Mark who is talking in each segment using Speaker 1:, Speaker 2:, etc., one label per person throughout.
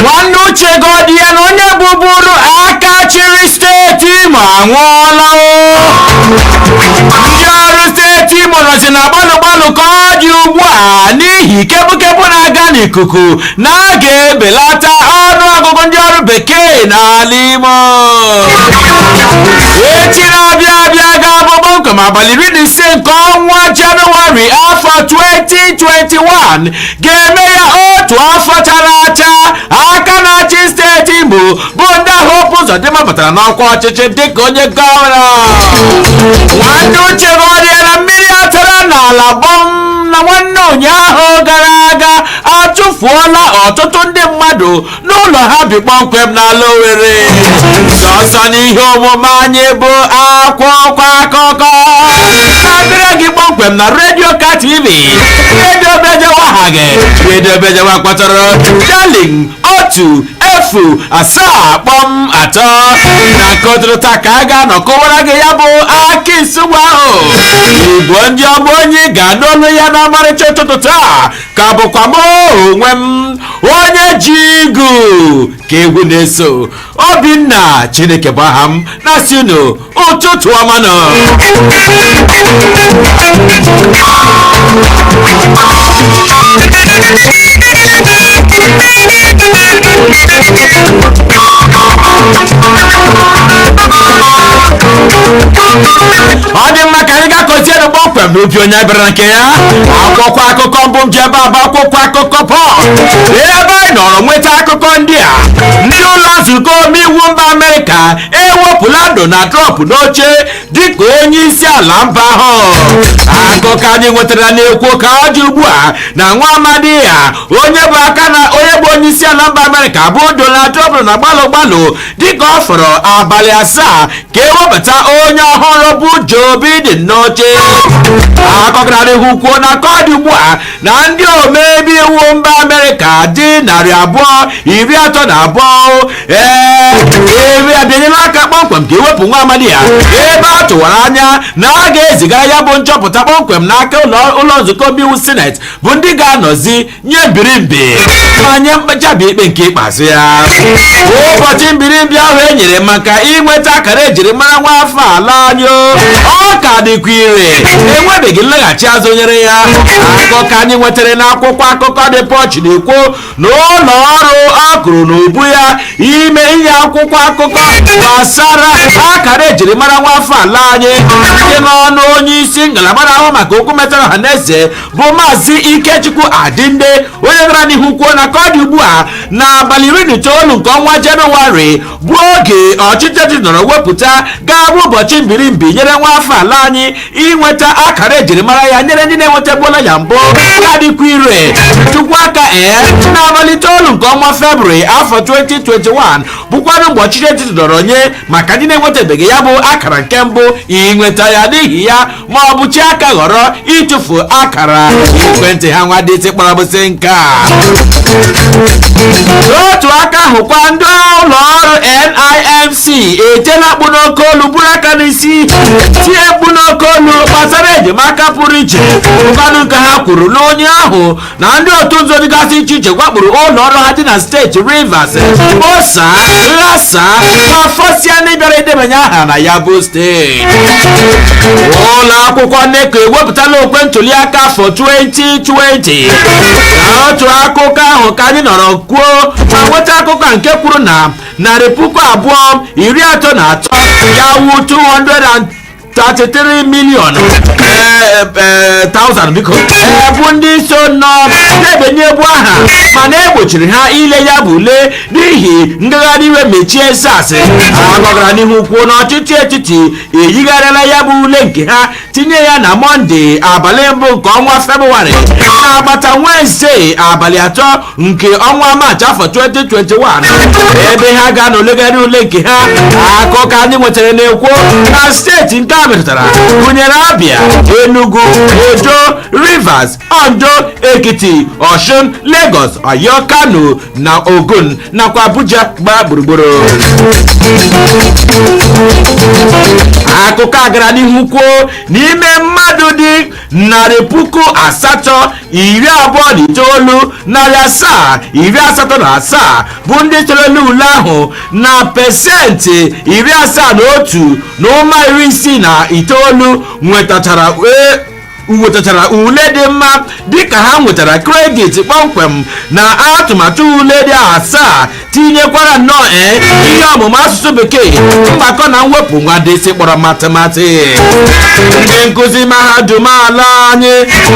Speaker 1: nwanne uche godi ya na onye bụburu aka chịrị steeti imo anwụọla o ndị ọrụ steeti imo nọzi na gbalụ gbalụ ka ọ dị ugbu a n'ihi kepukepu na-aga n'ikuku na a ga-ebelata ọnụ ọgụgụ ndị ọrụ bekee n'ala imo echi na-abịa abịa ga-abụ kpọmkwem abalị iri na ise nke ọnwa jenụwarị afọ 2021 ga-eme ya otu afọ chara acha aka na-achị steeti imo bụ nda hope ụzọdịmma batara n'ọkwa ọchịchị dịka onye gọvanọ nwanne uche godi ya na mmiri atara n'ala gbọm na nwanne ụnyaahụ gara aga achụfuola ọtụtụ ndị mmadụ n'ụlọ ha bi kpọmkwem n'ala Owerri sọsọ n'ihe omume anyị bụ akwụkwọ akụkọ na-abịara gị kpọmkwem na redio ka tv redio bejewa ha gị redio bejewa kpọtara darling otu efu asaa kpọm atọ n'aka ụtụtụ taa ka a ga-anọ kụwara gị ya bụ akị nsugbe ahụ igbo ndị ọma onye ị ga-anụ olu ya na ọmarịcha ụtụtụ taa ka bụkwa m onwe m onye ji igu ka ewu na-eso obinna chineke bụ aha m na-asị unu ụtụtụ ọma nụ ọ dị mma ka anyị gakọzienụ kpọmkwem n'ubi onye bịara nke ya akwụkwọ akụkọ mbụ m ji ebe a bụ akwụkwọ akụkọ punch ebe anyị nọrọ nweta akụkọ ndị a ndị ụlọ nzukọ omeiwu mba amerịka ewepụla donald trump n'oche dịka onye isi ala mba ahụ akụkọ anyị nwetara na-ekwu ka ọ dị ugbu a na nwa amadi ya onye bụ aka na onye bụ onye isi ala mba amerịka bụ donald trump na gbalụ gbalụ dịka ọ fọrọ abalị asaa ka e webata onye ọhụrụ bụ Joe Biden n'oche akụkọ gara ihu kwuo na ka ọ dị ugbu a na ndị omebe iwu mba Amerịka dị narị abụọ iri atọ na abụọ ee abịanyela aka kpọmkwem ka e wepụ nwa amadi ya ebe a tụwara anya na a ga-ezigara ya bụ nchọpụta kpọmkwem n'aka ụlọ nzukọ omeiwu sineti bụ ndị ga-anọzi nye mbirimbi ma nye mkpechabi ikpe nke ikpeazụ ya ụbọchị mbirimbi ahụ e nyere maka inweta akara ejirimara nwa afọ ala anyị o. ọ ka dịkwa ire enwebeghị nlaghachi azụ nyere ya akụkọ anyị nwetara n'akwụkwọ akụkọ The Punch na-ekwu na ụlọ ọrụ a kụrụ n'ubu ya ime inye akwụkwọ akụkọ gbasara akara ejirimara nwa afọ ala anyị site n'ọnụ onye isi ngalaba na-ahụ maka okwu metara ọha na eze bụ maazị ikechukwu adinde onye gara n'ihu kwuo na ka ọ dị ugbu a n'abalị iri na itoolu nke ọnwa jenụwarị bụ oge ọchịchị etiti nọrọ wepụta ga-abụ ụbọchị mbirimbi nyere nwa afọ ala anyị inweta akara ejirimara ya nyere ndị na-enwetabuola ya mbụ ka dịkwa ire tụkwuo aka ee n'abalị itoolu nke ọnwa febrụwarị afọ 2021 bụkwanụ mgbe ọchịchị etiti nọrọ nye maka ndị na-enwetabeghị ya bụ akara nke mbụ inweta ya n'ihi ya ma ọ bụ chi aka ghọrọ ịtụfu akara ekwentị ha nwa dị kpọrọ bụsị nke a n'otu aka ahụkwa ndị ụlọ ọrụ NIMC etiela mkpu n'oke olu buru aka n'isi tie mkpu n'oke olu gbasara enyemaka pụrụ iche ụbanụ nke ha kwuru n'onye ahụ na ndị otu nzuzo dịgasị iche iche gwakpuru ụlọ ọrụ ha dị na steeti rivers kposaa ghasaa ma fọsịa ndị bịara idebanye aha na ya bụ steeti ụlọ akwụkwọ NECO ewepụtala okwe ntuli aka afọ 2020 n'otu akụkọ ahụ ka anyị nọrọ kwuo ma nweta akụkọ nke kwuru na narị puku abụọ iri atọ na atọ ya wu 200 33 million eh, eh, thousand biko eh, bụ ndị so nọ na-ebenye ya bụ aha mana e gbochiri ha ile ya bụ ule n'ihi ngagharị iwe mechie SARS akụkọ gara n'ihu kwuo na ọchịchị etiti eyigharịala ya bụ ule nke ha tinye ya na mọnde abalị mbụ nke ọnwa febụwarị agbata wenezde abalị atọ nke ọnwa maachị afọ 2021 ebe ha ga-anọ legharịa ule nke ha akụkọ anyị nwetara na-ekwu na steeti nke a metụtara gụnyere abia enugu edo rivers ondo ekiti osun lagos oyo kano na ogun nakwa abuja gbaa gburugburu akụkọ a gara n'ihu kwuo n'ime mmadụ dị narị puku asatọ iri abụọ na itoolu narị asaa iri asatọ na asaa bụ ndị chere n'ule ahụ na pesenti iri asaa na otu na ụma iri isii na itoolu nwetachara e, nwetachara ule dị mma dịka ha nwetara kredit kpọmkwem na atụmatụ ule dị asaa tinyekwara nnọọ ee ihe ọmụmụ asụsụ bekee mgbakọ na mwepụ nwa dịsị kpọrọ matịmatị ndị nkụzi mahadum ala anyị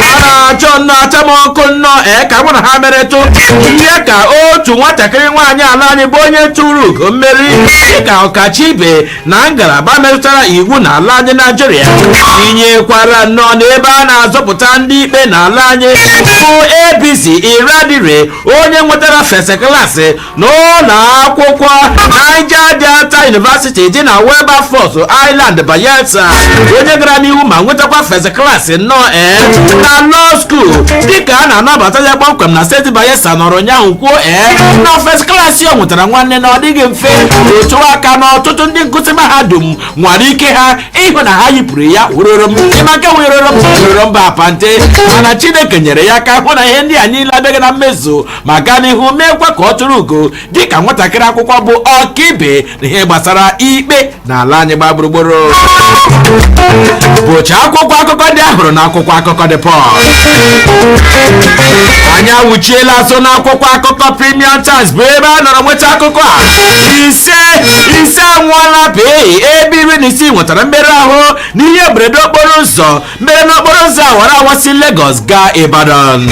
Speaker 1: a na-achọ nnọọ acha m ọkụ nnọọ ee ka mụ na ha meretụ ihe ka otu nwatakịrị nwaanyị ala anyị bụ onye turu ugo mmeri dịka ọkacha ibe na ngalaba metụtara iwu na ala anyị naijiria tinyekwara nnọọ n'ebe a na-azụpụta ndị ikpe na ala anyị bụ Ebizi Eradiri onye nwetara first class n'ụlọ akwụkwọ Niger Delta University dị na Wilberforce Island Bayelsa onye gara n'ihu ma nwetakwa first class nnọọ ee na law school dịka a na-anabata ya kpọmkwem na steeti Bayelsa nọrọ ụnyaahụ kwuo ee na first class o nwetara nwanne na ọ dịghị mfe otu aka na ọtụtụ ndị nkụzi mahadum nwara ike ha ịhụ na ha yipụrụ ya weroro m ịmaka weroro m weroro mba apante mana chineke nyere ya aka hụ na ihe ndị a niile abịaghị na mmezu ma gaa n'ihu meekwa ka o turu ugo dịka nwatakịrị akwụkwọ bụ ọkaibe na ihe gbasara ikpe n'ala anyị gbaa gburugburu bụcha akwụkwọ akụkọ ndị a hụrụ n'akwụkwọ akụkọ The Punch anyị awụchiela azụ n'akwụkwọ akụkọ premium times bụ ebe a nọrọ nweta akụkọ a ise anwụọla pịị ebe iri na isii nwetara mmerụ ahụ n'ihe mberede okporo ụzọ mere n'okporo ụzọ awara awasị Lagos gaa Ibadan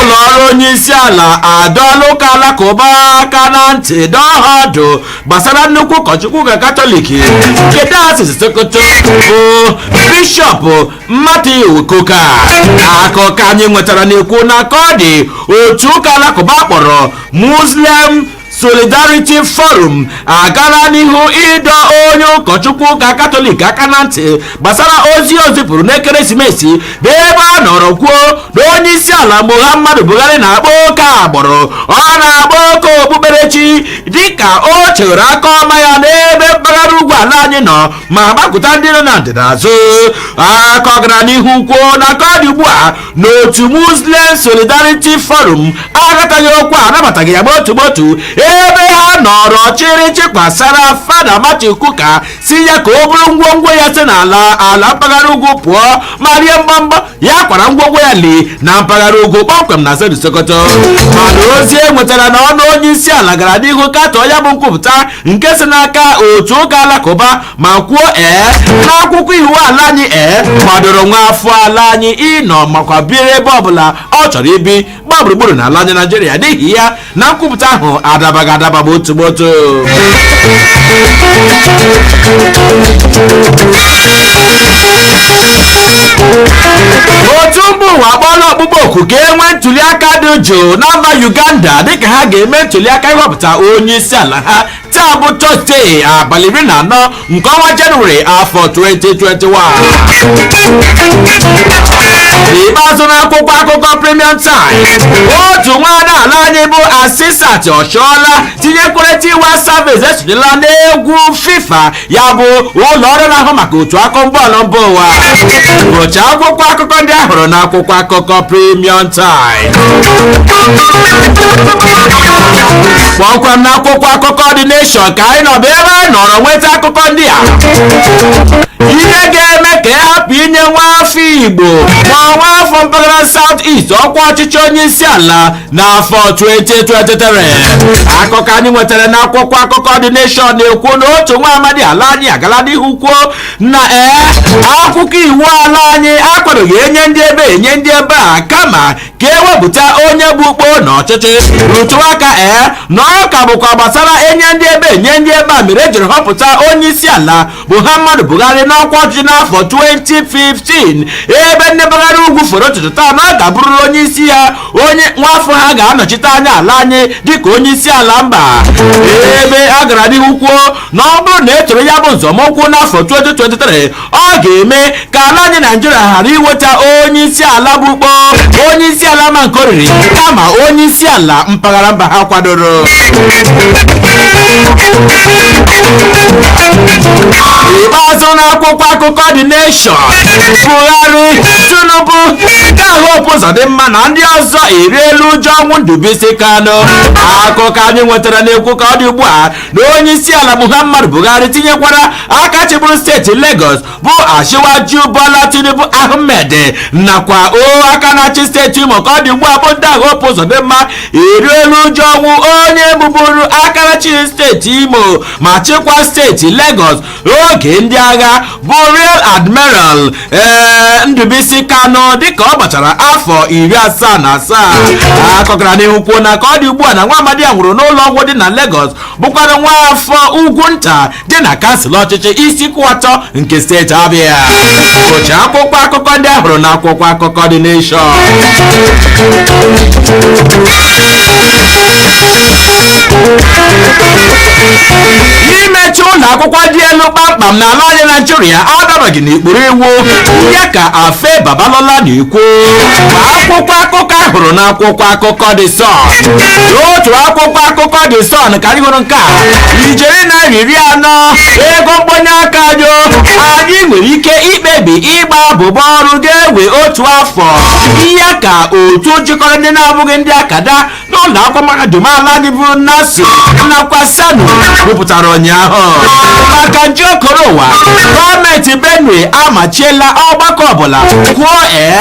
Speaker 1: ụlọ ọrụ onye isi ala adọọla ụka alakụba aka na ntị dụọ ha ọdụ gbasara nnukwu ụkọchukwu ụka katọlik nke dayọsis Sokoto bụ bishọp Matthew Kukah akụkọ anyị nwetara na-ekwu na ka ọ dị otu ụka alakụba a kpọrọ Muslim Solidarity Forum agala n'ihu ịdọ onye ụkọchukwu ụka katọlik aka na ntị gbasara ozi o zipụrụ n'ekeresimesi bụ ebe ọ nọrọ kwuo na onye isi ala Muhammadu Buhari na-akpa oke agbụrụ ọ na-akpa oke okpukperechi dịka o chere aka ọma ya n'ebe mpaghara ugwu ala anyị nọ ma gbakụta ndị nọ na ndịda azụ akụkọ gara n'ihu kwuo na ka ọ dị ugbu a n'otu muslim solidarity forum aghọtaghị okwu anabataghị ya gbotu gbotu ebe ha nọrọ chịrị chịkwasara fada Matthew Kukah sị ya ka o buru ngwongwo ya si n'ala ala mpaghara ugwu pụọ ma rie mbọmbọ ya kwara ngwongwo ya li na mpaghara ugwu kpọmkwem na steeti Sokoto mana ozi e nwetara na ọnụ onye isi ala gara n'ihu katọọ ya bụ nkwupụta nke si n'aka otu ụka alakụba ma kwuo ee n'akwụkwọ iwu ala anyị ee kwadoro nwa afọ ala anyị ịnọ makwa biri ebe ọbụla ọ chọrọ ibi gbaa gburugburu na ala anyị naijiria n'ihi ya na nkwupụta ahụ adabaghị adaba bụ otu otu otu mba ụwa akpọọla ọkpụkpọ oku ka e nwee ntuli aka dị jụụ na mba uganda dịka ha ga-eme ntuli aka ịhọpụta onye isi ala ha taa bụ tọzdee abalị iri na anọ nke ọnwa jenụwarị afọ 2021 n'ikpeazụ n'akwụkwọ akụkọ premium times otu nwaada ala anyị bụ asisat oshoala tinyekwere tiwa savage esonyela n'egwu fifa ya bụ ụlọ ọrụ na-ahụ maka otu akọmbọọlụ mba ụwa bụcha akwụkwọ akụkọ ndị a hụrụ n'akwụkwọ akụkọ Premium Times kpọmkwem n'akwụkwọ akụkọ The Nation ka anyị nọ bụ ebe anyị nọrọ nweta akụkọ ndị a ihe ga-eme ka a hapụ inye nwa afọ Igbo ma nwa afọ mpaghara South East ọkwa ọchịchị onye isi ala n'afọ 2023 akụkọ anyị nwetara n'akwụkwọ akụkọ The Nation na-ekwu na otu nwa amadi ala anyị agala n'ihu kwuo na ee akwụkwọ iwu ala anyị akwadoghị enye ndị ebe enye ndị ebe a kama ka ewepụta onye bụ ukpo n'ọchịchị rụtụ aka ee na ọ ka bụkwa gbasara enye ndị ebe enye ndị ebe a mere ejiri họpụta onye isi ala muhammadu buhari n'ọkwa ọchịchị n'afọ 2015 ebe ndị mpaghara ugwu foro ntutu taa na ọ ga-abụrụrụ onye isi ya onye nwaafọ ha ga-anọchite anya ala anyị dịka onye isi ala mba ebe a gara n'ihu kwuo na ọ bụrụ na etoro ya bụ nzọmụkwụ n'afọ 2023 ọ ga-eme ka ala anyị naijiria ghara inweta onye isi ala bụ ukpo onye isi ala ma nke oriri kama onye isi ala mpaghara mba ha kwadoro ikpeazụ na akwụkwọ akụkọ The Nation Buhari Tinubu nakwa Hope Uzodimma na ndị ọzọ eriela uju ọnwụ Ndubuisi Kanu akụkọ anyị nwetara na-ekwu ka ọ dị ugbu a na onye isi ala Muhammadu Buhari tinyekwara aka chịburu steeti Lagos bụ Asiwaju Bola Tinubu Ahmed nakwa o aka na-achị steeti Imo ka ọ dị ugbu a bụ nda Hope Uzodimma eriela uju ọnwụ onye bụburu aka na-achị steeti Imo ma chịkwa steeti Lagos oge ndị agha bụ Rear Admiral ee Ndubuisi Kanu dịka ọ gbachara afọ iri asaa na asaa akụkọ gara n'ihu kwuo na ka ọ dị ugbu a na nwa amadi a nwụrụ n'ụlọ ọgwụ dị na Lagos bụkwara nwa afọ ugwu nta dị na kansụl ọchịchị isuikwuatọ nke steeti Abịa bụcha akwụkwọ akụkọ ndị ahụrụ na akwụkwọ akụkọ The Nation imechi ụlọ akwụkwọ dị elu kpamkpam na ala anyị naịjirịa adabaghị n'ikpuru iwu ya ka afe babalola na-ekwu akwụkwọ akụkọ ahụrụ na akwụkwọ akụkọ The Sun otu akwụkwọ akụkọ The Sun ka anyị hụrụ nke a ijeri naira iri anọ ego mkpọnye aka anyị o. anyị nwere ike ikpebi ịgba abụbọ ọrụ ga-ewe otu afọ ya ka otu jikọrọ ndị na-abụghị ndị akada n'ụlọ akwụkwọ mahadum ala anyị bụ nasu nakwa ssanu kwupụtara ụnyaahụ maka nje okoro ụwa gọọmenti benue amachiela ọgbakọ ọbụla kwuo ee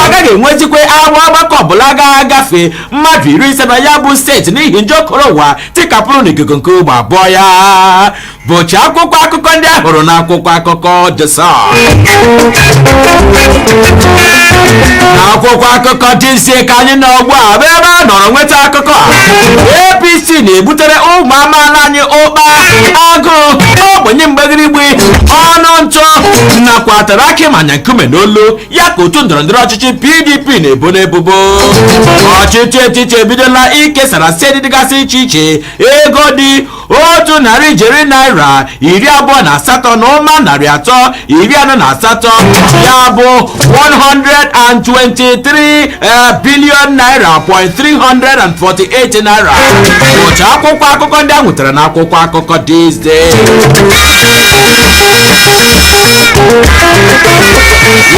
Speaker 1: agaghị enwezikwa agba ọgbakọ ọbụla ga-agafe mmadụ iri ise na ya bụ steeti n'ihi nje okoro ụwa tikapụrụ n'ikuku nke ugbo abụọ ya bụcha akwụkwọ akụkọ ndị a hụrụ n'akwụkwọ akụkọ The Sun n'akwụkwọ akụkọ This Day ka anyị nọ ugbu a bụ ebe a nọrọ nweta akụkọ a APC na-ebutere ụmụ amaala anyị ụkpa agụụ ogbenye mgbagirigbi ọnụ ntụ nakwa tara akị manya nkume n'olu ya ka otu ndọrọndọrọ ọchịchị pdp na-ebo n'ebubo ọchịchị etiti ebidola ikesara steeti dịgasị iche iche ego dị otu narị ijeri naira iri abụọ na asatọ na ụma narị atọ iri anọ na asatọ ya bụ 123 eh, billion naira point 348 naira bụcha akwụkwọ akụkọ ndị a nwetara na akwụkwọ akụkọ this day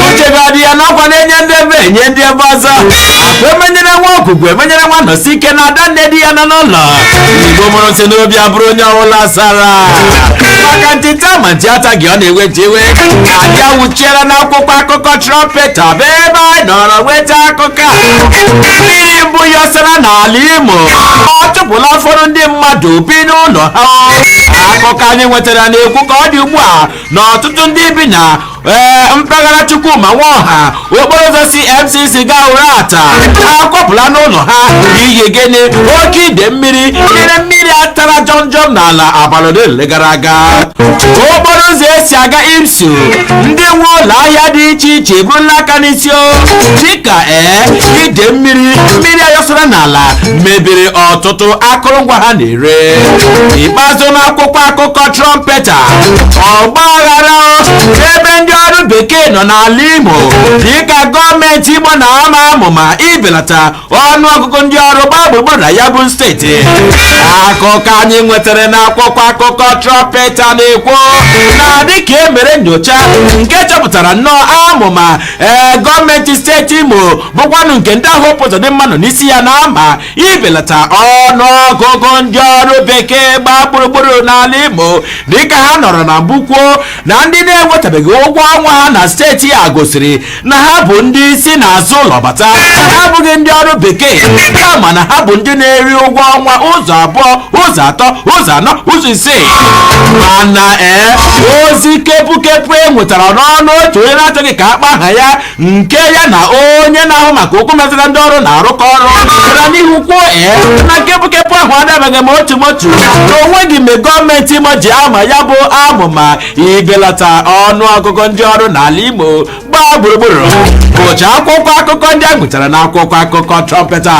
Speaker 1: uche ga-adị ya n'ọkwa na-enye ndị ebe enye ndị ebe ọzọ akwa emenyere nwa ogwugwu emenyere nwa anọsike na ada nne di ya nọ n'ụlọ igbo mụrụ nsị n'obi abụrụ onye ọbụla sara maka nti taa ma nti ataghị ọ na-ewe nti iwe anyị awụchiela n'akwụkwọ akụkọ trumpeta bụ ebe anyị nọrọ nweta akụkọ ka mmiri mbụ yọsara n'ala imo ọ chụpụla ụfọdụ ndị mmadụ bi n'ụlọ ha akụkọ anyị nwetara na-ekwu ka ọ dị ugbu a na ọtụtụ ndị bi na ee mpaghara chukwuma nwaọha okporo ụzọ si mcc gaa uratta akwapụla n'ụlọ ha n'ihi gịnị oke ide mmiri mmiri mmiri atara jọmjọm n'ala abalị ole ole gara aga okporo ụzọ esi aga imsu ndị nwe ụlọ ahịa dị iche iche eburula aka n'isi tio dịka ee ide mmiri mmiri a yọsara n'ala mebiri ọtụtụ akụrụngwa ha na-ere ikpeazụ n'akwụkwọ akụkọ trumpeta ọgba aghara ebe ndị ọrụ bekee nọ n'ala imo dịka gọọmenti imo na-ama amụma ibelata ọnụ ọgụgụ ndị ọrụ gbaa gburugburu na ya bụ steeti akụkọ anyị nwetara na akwụkwọ akụkọ trọmpeta na-ekwu na dịka e mere nyocha nke chọpụtara nnọọ amụma ee gọọmenti steeti imo bụkwanụ nke nda Hope Uzodimma nọ n'isi ya na-ama ibelata ọnụ ọgụgụ ndị ọrụ bekee gbaa gburugburu n'ala imo dịka ha nọrọ na mbụ kwuo na ndị na-enwetabeghị ụgwọ ọnwa ha na steeti a gosiri na ha bụ ndị si n'azụ ụlọ bata ha abụghị ndị ọrụ bekee kama na ha bụ ndị na-eri ụgwọ ọnwa ụzọ abụọ ụzọ atọ ụzọ anọ ụzọ ise mana ee ozi kepukepu e nwetara n'ọnụ otu onye na-achọghị ka a kpaa aha ya nke ya na onye na-ahụ maka okwu metụta ndị ọrụ na-arụkọ ọrụ gara n'ihu kwuo ee na kepukepu ahụ adabaghị ma otu ma otu na o nweghị mgbe gọọmenti imo ji ama ya bụ amụma ibelata ọnụ ọgụgụ ndị ọrụ n'ala imo gbaa gburugburu bụcha akwụkwọ akụkọ ndị a nwetara na akwụkwọ akụkọ trọmpeta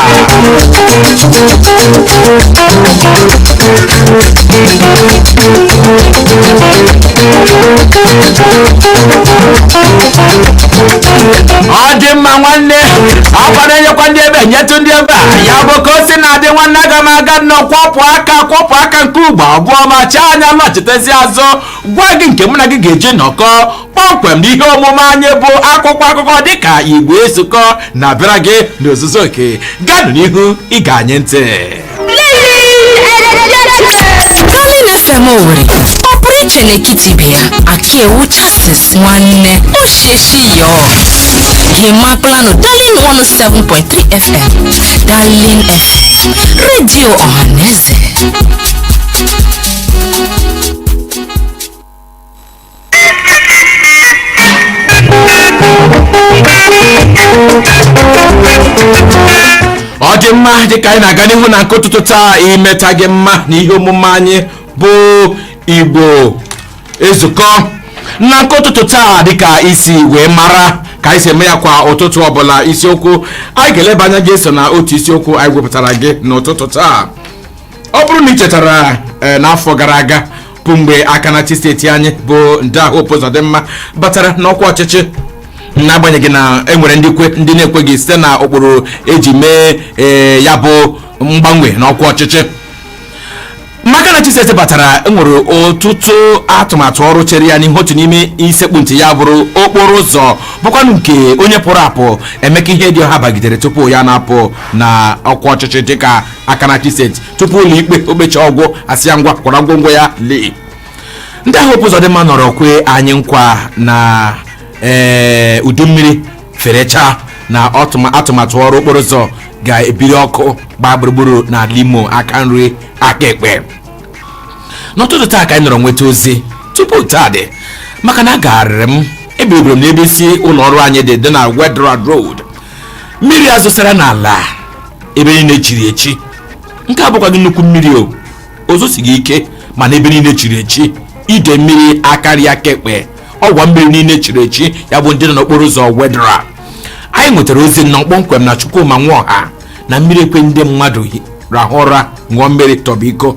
Speaker 1: ọ dị mma nwanne ọkwa na-enyekwa ndị ebe nyetụ ndị ebe a ya bụ ka o si na-adị nwanne aga m aga nnọọ kwọpụ aka kwọpụ aka nke ugbo abụọ ma chaa anya macha na-echitezi azụ gwa gị nke mụ na gị ga-eji nọkọ kpọmkwem n'ihe omume anyị bụ akwụkwọ akụkọ dịka igbo ezukọ na-abịara gị n'ozuzu oke ganụ n'ihu ịṅa anyị ntị
Speaker 2: Darling FM Owerri ọ pụrụ iche n'ekiti ibe ya akiewu justice nwanne o sheshi yo himaklanụ Darling 107.3 FM Darling FM redio ọhaneze
Speaker 1: ọ dị mma dịka anyị na-aga n'ihu na nke ụtụtụ taa imeta gị mma na ihe omume anyị bụ igbo ezukọ na nke ụtụtụ taa dịka i si wee mara ka anyị si eme ya kwa ụtụtụ ọbụla isiokwu anyị ga-eleba anya gị so na otu isiokwu anyị wepụtara gị n'ụtụtụ taa ọ bụrụ na ị chetara eh, n'afọ gara aga bụ mgbe aka na-achị steeti anyị bụ nda Hope Uzodimma batara n'ọkwa ọchịchị n'agbanyeghị na e nwere ndị kwe ndị na-ekweghị site na ụkpụrụ e ji mee eh, ya bụ mgbanwe n'ọkwa ọchịchị ma aka na-achị steeti batara e nwere ọtụtụ atụmatụ ọrụ chere ya n'ihu otu n'ime isekpu ntị ya bụrụ okporo ụzọ bụkwanụ nke onye pụrụ apụ Emeka Ihedioha bagidere tupu ya na-apụ na ọkwa ọchịchị dịka aka na-achị steeti tupu ụlọ ikpe okpecha ọgwụ asị ya ngwa kwara ngwongwo ya lee Ndaa Hope Uzodimma nọrọ kwee anyị nkwa na ee udu mmiri ferechaa na ọtụma- atụmatụ ọrụ okporo ụzọ ga-ebiri ọkụ gbaa gburugburu n'ala Imo aka nri aka ekpe n'ụtụtụ taa ka anyị nọrọ nweta ozi tupu taa dị maka na agagharịrị m ebiribiri m n'ebe isi ụlọ ọrụ anyị dị dị na Wetheral Road mmiri a zosara n'ala ebe niile chiri echi nke a abụkwaghị nnukwu mmiri o zosighị ike mana ebe niile chiri echi ide mmiri akarịa kekpe ọgwa mmiri niile chiri echi ya bụ ndị nọ n'okporo ụzọ wetheral anyị nwetara ozi nnọọ kpọmkwem na chukwuma nwoha na mmiri ekwe ndị mmadụ hi- rahụ ụra ṅụọ mmiri tọgbọ iko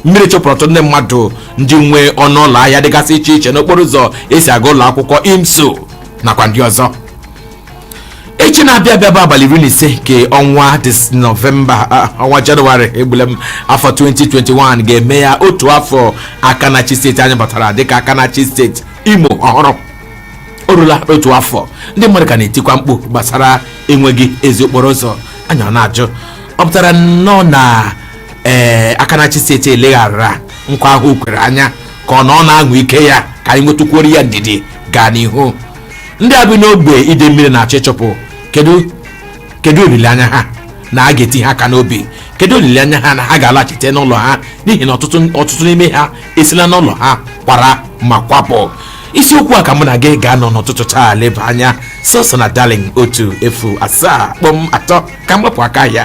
Speaker 1: mmiri chụpụrụ ọtụtụ ndị mmadụ ndị nwe ọnụ ụlọ ahịa dịgasị iche iche n'okporo ụzọ esi aga ụlọ akwụkwọ imsu nakwa ndị ọzọ echi na-abịa abịa bụ abalị iri na ise nke ọnwa dis nọvemba ah, ọnwa jenụwarị egbule m afọ 2021 ga-eme ya otu afọ aka na-achị steeti anyị batara dịka aka na-achị steeti imo ọhụrụ o rula otu afọ ndị mmadụ ka na-etikwa mkpu gbasara enweghị ezi okporo ụzọ anyị na-ajụ ọ pụtara nnọọ na ee aka na-achị steeti eleghara nkwa ahụ o kwere anya ka ọ na ọ na-anwa ike ya ka anyị nwetụkwuoro ya ndidi gaa n'ihu ndị a bi n'ogbe ide mmiri na-achọ ịchụpụ kedu kedu olileanya ha na a ga-eti ha aka n'obi kedu olileanya ha na ha ga-alaghachite n'ụlọ ha n'ihi na ọtụtụ ọtụtụ n'ime ha esila n'ụlọ ha kwara ma kwapụ isiokwu a ka mụ na gị ga-anọ n'ụtụtụ taa leba anya sọsọ na darling otu efu asaa kpọm atọ ka m gbapụ aka ahịa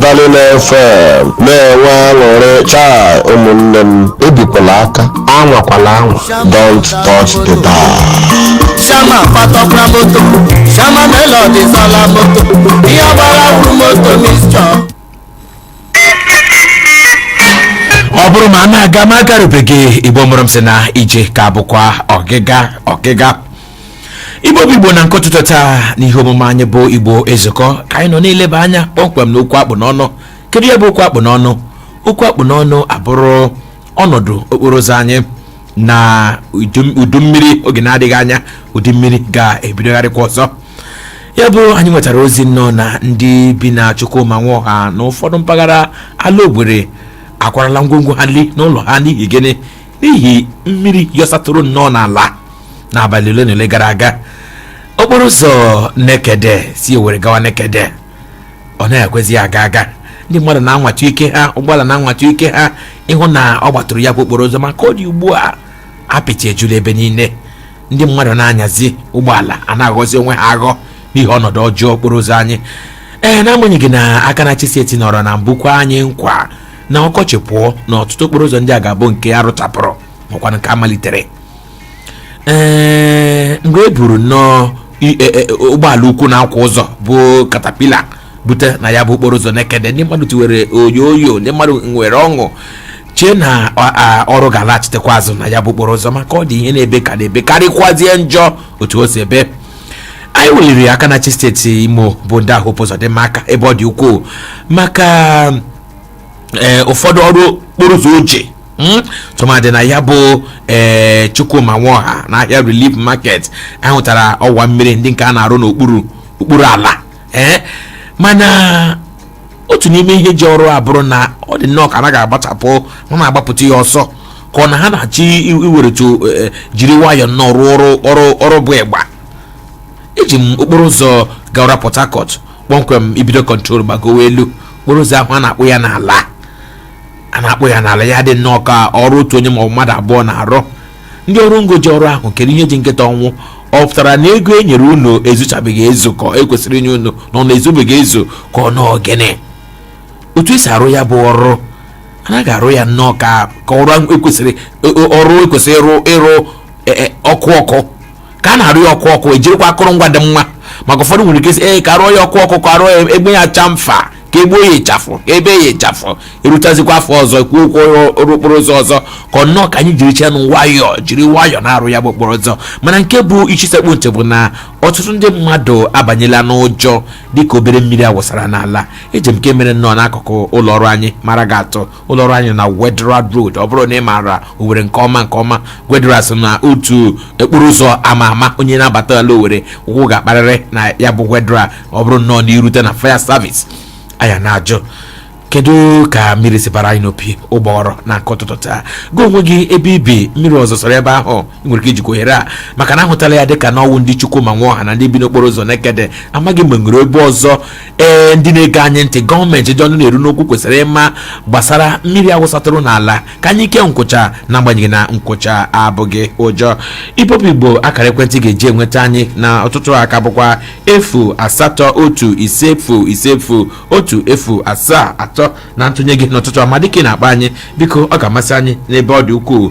Speaker 3: Darling FM na-enwe aṅụrị chai ụmụnne m ebikwala aka anwakwala anwa don't touch the dial. Shama
Speaker 4: patakwa moto Shama melodi zụọla moto ihe ọ gbara wụrụ moto
Speaker 1: mixture ọ bụrụ ma a na-aga ma a garubeghị igbo mụrụ m sị na ije ka bụkwa ọgịga ọgịga igbo bụ igbo na nke ụtụtụ taa n'ihe omume anyị bụ igbo ezukọ ka anyị nọ na-eleba anya kpọmkwem na okwu akpụ n'ọnụ kedu ya bụ okwu akpụ n'ọnụ okwu akpụ n'ọnụ abụrụ ọnọdụ okporo ụzọ anyị na udu- udu mmiri oge na-adịghị anya udu mmiri ga-ebidogharịkwa ọzọ ya bụ anyị nwetara ozi nnọọ na ndị bi na chukwuma nwoha na ụfọdụ mpaghara ala owere akwarala ngwongwo ha li n'ụlọ ha n'ihi gịnị n'ihi mmiri yọsatụrụ nnọọ n'ala n'abalị ole na ole gara aga okporo ụzọ nekede si owere gawa nekede ọ na-ekwezi aga aga ndị mmadụ na-anwata ike ha ụgbọala na-anwata ike ha ịhụ na ọ gbatụrụ ya bụ okporo ụzọ ma ka ọ dị ugbu a apịtị ejula ebe niile ndị mmadụ na-anyazi ụgbọala a na-aghọzi onwe ha aghọ n'ihi ọnọdụ ọjọọ okporo ụzọ anyị ee n'agbanyeghị na aka na-achị steeti nọrọ na mbụ kwe anyị nkwa na ọkọchị pụọ na ọtụtụ okporo ụzọ ndị a ga-abụ nke a rụchapụrụ makwa nke a malitere ee mgbe e buru nnọọ i- e- e- ụgbọala ukwu na-akwa ụzọ bụ katapila bute na ya bụ okporo ụzọ nekede ndị mmadụ tiwere oyoyo ndị mmadụ nwere ọṅụ chee na a- a- ọrụ ga-alaghachitekwa azụ na ya bụ okporo ụzọ ma ka ọ dị ihe na-ebe ka na-ebe karịkwazie njọ otu o si ebe anyị weliri aka na-achị steeti imo bụ ndaa Hope Uzodimma aka ebe ọ dị ukwuu maka ee ụfọdụ ọrụ okporo ụzọ o ji hmm? tụmadị na ya bụ ee Chukwuma Nwoha na ahịa Relief Market a hụtara ọwa mmiri ndị nke a na-arụ n'okpuru okpuru ala ee mana otu n'ime ihe ji ọrụ a bụrụ na ọ dị nnọọ ka anaghị agbachapụ ha na-agbapụta ya ọsọ ka ọ na ha na-achọ iweretu e, e, jiri nwayọọ nnọọ rụọ ọrụ ọrụ bụ ịgba eji m okporo ụzọ gawara Port Harcourt kpọmkwem i bido kọntrol gbagowe elu okporo ụzọ ahụ a na-akpụ ya n'ala a na-akpụ ya n'ala ya dị nnọọ ka ọrụ otu onye maọbụ mmadụ abụọ na-arụ ndị ọrụ ngo ji ọrụ ahụ kedu ihe ji nkịta ọnwụ ọ pụtara na ego e nyere unu ezuchabeghị ezu ka e kwesịrị inye unu na ọ na-ezubeghị ezu ka ọ nnọọ gịnị otu esi arụ ya bụ ọrụ anaghị arụ ya nnọọ ka ka ọrụ ekwesịrị ọrụ ekwesịrị ịrụ ịrụ e- e- ọkụ ọkụ ka a na-arụ ya ọkụ ọkụ ejirikwa akụrụngwa dị mma maka ụfọdụ nwere ike sị ee ka arụọ ya ọkụ ọkụ ka arụọ ya egbe ya cha mfa ka egbuo ya ịchafụ ka ebe ya ịchafụ erutazikwa afọ ọzọ kwuo okwu ọrụ okporo ụzọ ọzọ ka ọ nnọọ ka anyị jirichanụ nwayọọ jiri nwayọọ na-arụ ya bụ okporo ụzọ mana nke bụ isi sekpụ ntị bụ na ọtụtụ ndị mmadụ abanyela n'ụjọ dịka obere mmiri awụsara n'ala eji m nke mere nnọọ n'akụkụ ụlọ ọrụ anyị mara gị atụ ụlọọrụ anyị na Wetheral Road ọ bụrụ na ị maara Owerri nke ọma nke ọma Wetheral so na otu okporo ụzọ ama ama onye na-abata ala Owerri ụkwụ ga-akparịrị na ya bụ Wetheral ọ bụrụ nnọọ na i rute na fire service anyị na-ajụ kedu ka mmiri si bara anyị n'opi ụgbọghọrọ na nke ụtụtụ taa gị onwe gị ebe i bi mmiri o zosara ebe ahụ nwere ike ijikwa ohere a maka na ahụtala ya dịka na ọ wụ ndị Chukwuma Nwoha na ndị bi n'okporo ụzọ nekede amaghị m ma e nwere ebe ọzọ ee ndị na-ege anyị ntị gọọmenti ndị ọnụ na-eru n'okwu kwesịrị ịma gbasara mmiri awụsatụrụ n'ala ka anyị kee nkwụcha na agbanyeghị na nkwụcha abụghị ụjọ igbo bụ igbo akara ekwentị ga-eji enweta anyị n'ụtụtụ a ka bụkwa efu asatọ otu ise efu ise efu otu efu asaa atọ na ntụnye gị n'ụtụtụ a ma dịka ị na-akpọ anyị biko ọ ga-amasị anyị n'ebe ọ dị ukwuu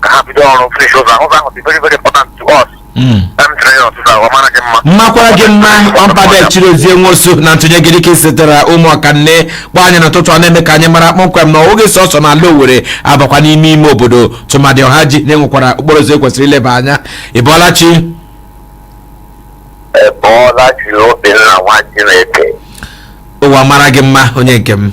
Speaker 5: ka ha bido ọrụ finish ụzọ ahụ ụzọ ahụ dị very very important to us Mm.
Speaker 1: em tiri ya ọsịsa ọ mara gị mma makwara gị mma ọmpada chirozie nwosu na ntụnye gị dịka i sitere ụmụọkanne kpọ anyị n'ụtụtụ a na-eme ka anyị mara kpọmkwem na ọ wụghị sọsọ na ala owere abakwa n'ime ime obodo tụmadị ọhaji na e nwekwara okporo ụzọ ekwesịrị ileba anya ịbọọla
Speaker 5: chi ịbọọla chi obinna nwa chineke ụwa
Speaker 1: mara gị mma onye nke m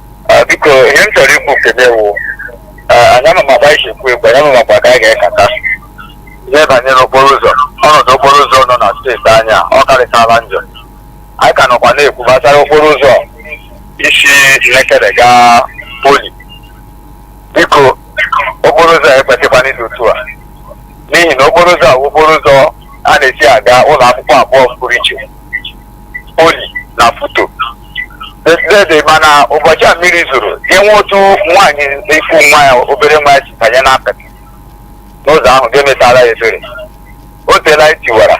Speaker 5: Ah, biko ihe m chọrọ ikwu kebe wụ anyị ama maba isi ekwu ekwu anyị ama makwa ka anyị ga-ekata ihe banyere okporo ụzọ ọnọdụ okporo ụzọ nọ na steeti anyị a, ọ karịchala njọ anyị ka nọkwa na-ekwu gbasara okporo ụzọ isi nekede gaa poli biko okporo ụzọ a ekwesịkwana ịdị otu a n'ihi na okporo ụzọ a wụ okporo ụzọ a na-esi aga ụlọ akwụkwọ abụọ pụrụ iche oli na futo dede mana ụbọchị a mmiri zoro enwe otu nwaanyị ị fụ nwa ya obere nwa ya si banye n'apịtị n'ụzọ ahụ ga-emetara ya ebere o teela anyị tiwara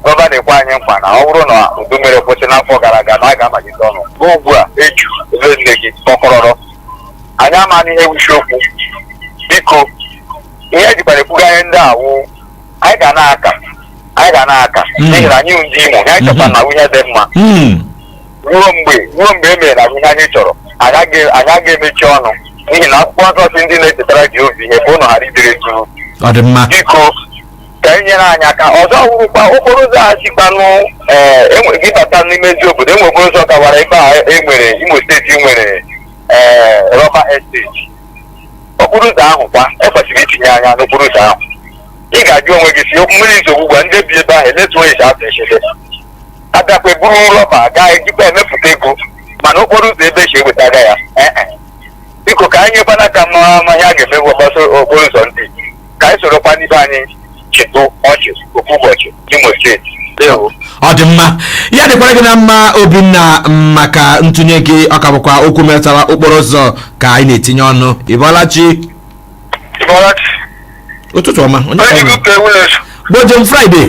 Speaker 5: gọvanọ ekwe anyị nkwa na ọ bụrụ na udu mmiri kwụsị n'afọ gara aga na a ga-amalite ọnụ ruo ugbu a eju ebe niile dị kọkọrọrọ anyị amaghị ihe wụ isi okwu biko ihe ejikwara ekwuga ihe ndị a wụ anyị ga na-aka anyị ga na-aka Mm. n'ihi na anyị bụ ndị imo anyị chọta Mhm. na ihe dị mma Mm. ruo mgbe ruo mgbe e meere anyị ihe anyị chọrọ anyị aga- anyị aga emechi ọnụ n'ihi na akwụkwọ nsọ sị ndị na-echetara jehova ihe ka ụnụ ghara idere jụụ ọ dị mma biko ka e nyere anyị aka ọzọ wụrụkwa okporo ụzọ a sikwanụ ee enwe- gị bata n'ime eziobodo enwe okporo ụzọ gawara ebe a e nwere imo steeti nwere ee rọba esteti okporo ụzọ ahụ kwa ekwesịrị itinye anya n'okporo ụzọ ahụ ị ga-ajụ onwe gị sị mmiri izo ugbu a ndị bi ebe ahụ elee otu onye si atụ echebe abịakwa eburu rọba gaa ejikwa emepụta ego mana okporo ụzọ ebe esi ewetaga ya ee e. biko ka anyị nyekwana aka ma ma ihe a ga-emewe gbasara okporo ụzọ ndị ka anyị sorokwanụ ibe anyị chịtụ ọchị ofu ụbọchị n'imo steeti ndewo ọ dị
Speaker 1: mma ya dịkwara gị na mma obinna m, maka ntụnye gị ọ ka bụkwa okwu metara okporo ụzọ ka anyị na-etinye ọnụ ịbọlachi Ịbọlachi. ụtụtụ ọma onye Onye ka ọ bụ? dịka ewu na-eso. gbojem friday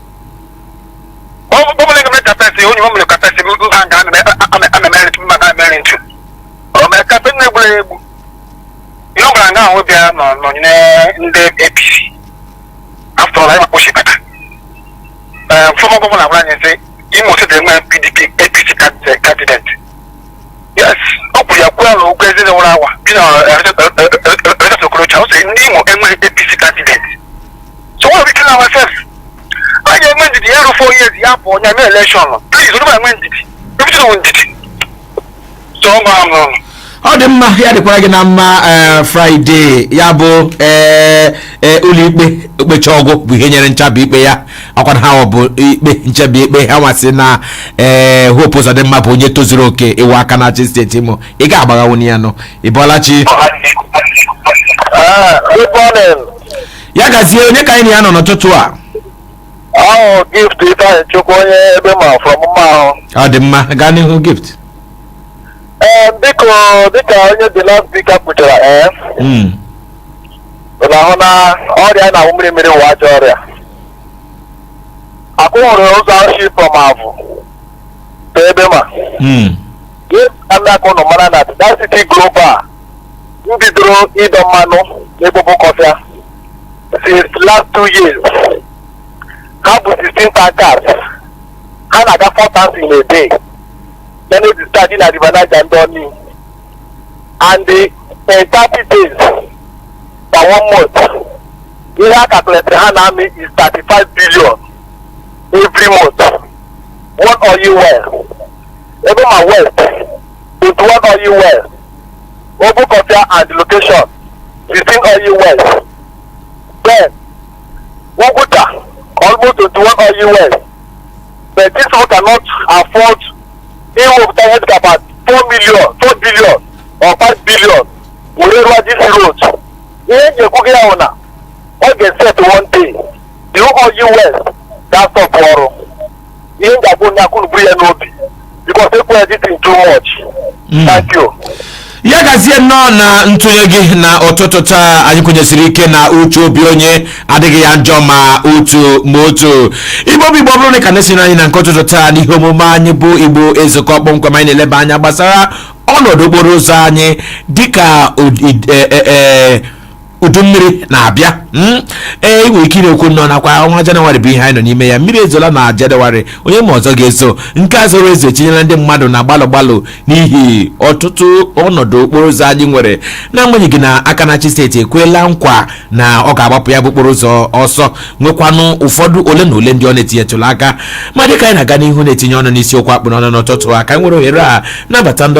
Speaker 5: Gọvanọ ga-eme campaign onye o mere campaign mba nke a na-emeri mba na-emeri ntu. O mee campaign na-egburu ya egbu. Ihe ọ bụla nga ahụ bịa nọnyere ndị APC. After all ịma kpochi kata. Ee, former governor agwara anyị sị Imo steeti enwe PDP APC candidate. Yes, ọ kwuru ya kwuo ala ụgwọ ezi nwụrụ awa bi na Rochas Okorocha ọ sị ndị Imo enweghị APC candidate. so what we kill ourselves a ga-enwe ndidi ya rụọ 4 years ya pụọ ya mee elekshọn pliz onye ma enwe ndidi everything wụ ndidi so ọ gbara m n'ọnụ ọ dị
Speaker 1: mma ya dịkwara gị na mma ee, fraịde ya bụ ee, ee, ụlọikpe okpechaa ọ gwụ bụ ihe nyere nchabi ikpe ya ọkwana ha ọ bụ ikpe nchabi ikpe ha nwasị na ee, hope ụzọdịmma bụ onye tozuru oke ịwụ aka na-achị steeti imo ị ga-agbaghanwu ya nnọọ ị bọọla chi Good morning. ya gazie onye ka anyị na ya nọ n'ụtụtụ a
Speaker 5: awụ gift ifeanyịchukwu onye egbema from mmahu ọ dị mma gaa
Speaker 1: n'ihu gift
Speaker 5: ee biko dịka onye the last speaker kwuchara ee Mm. ị na-ahụ na ọrịa na-awụ mmiri mmiri wụ ajọ ọrịa akwụ hụrụ ụzọ ahụ shi from avụ to egbema Mm. dịka ndị aka ụnụ mara na ndị sterling global m bidoro ịdọ mmanụ n'obokofia since last two years ha bụ 16 tankers ha na-aga 4 turns in a day ya na-eje steady na river niger ndoni and the in 30 days na one month ihe a calculated ha na-amị is 35 billion every month one oil well egbema west 21 Oil Wells, Obokofia and Location, 15 Oil Wells, then Oguta, almost 21 Oil Wells. But these people cannot afford ịwepụta ihe dịka about 4 million, 4 billion or 5 billion were rụọ this road. Ihe m ji ekwu gị ya bụ na ọ ga-eset one day, the Oil Wells ga-astọpụ ọrụ. ihe m ga-agwa onye akụrụ buru ya n'obi bikos ekwe ya dịtị too much Mm. thank you ya gazie
Speaker 1: nnọọ na ntụnye gị na ụtụtụ taa anyị kwenyesiri ike na uche obi onye adịghị ya njọ ma otu ma otu igbo bụ igbo ọ bụrụ na ị ka na-esoro anyị na nke ụtụtụ taa n'ihe omume anyị bụ igbo ezukọ kpọmkwem anyị na-eleba anya gbasara ọnọdụ okporo ụzọ anyị dịka ụdị- e- e- e- udu mmiri na-abịa hmm? i nwere ike na-ekwu nnọọ nakwa ọnwa janụwarị bụ ihe anyị nọ n'ime ya mmiri ezola na janụwarị onye ma ọzọ ga-ezo nke a zoro ezo etinyela ndị mmadụ na gbalụ gbalụ n'ihi ọtụtụ ọnọdụ okporo ụzọ anyị nwere n'agbanyeghị na aka na-achị steeti ekwela nkwa na ọ ga-agbapụ ya bụ okporo ụzọ ọsọ nwekwanụ ụfọdụ ole na ole ndị ọ na-etinyetụla aka ma dịka anyị na-aga n'ihu na-etinye ọnụ n'isiokwu a kpụ n'ọnụ n'ụtụtụ a ka anyị nwere ohere a nabata ndị ọbịa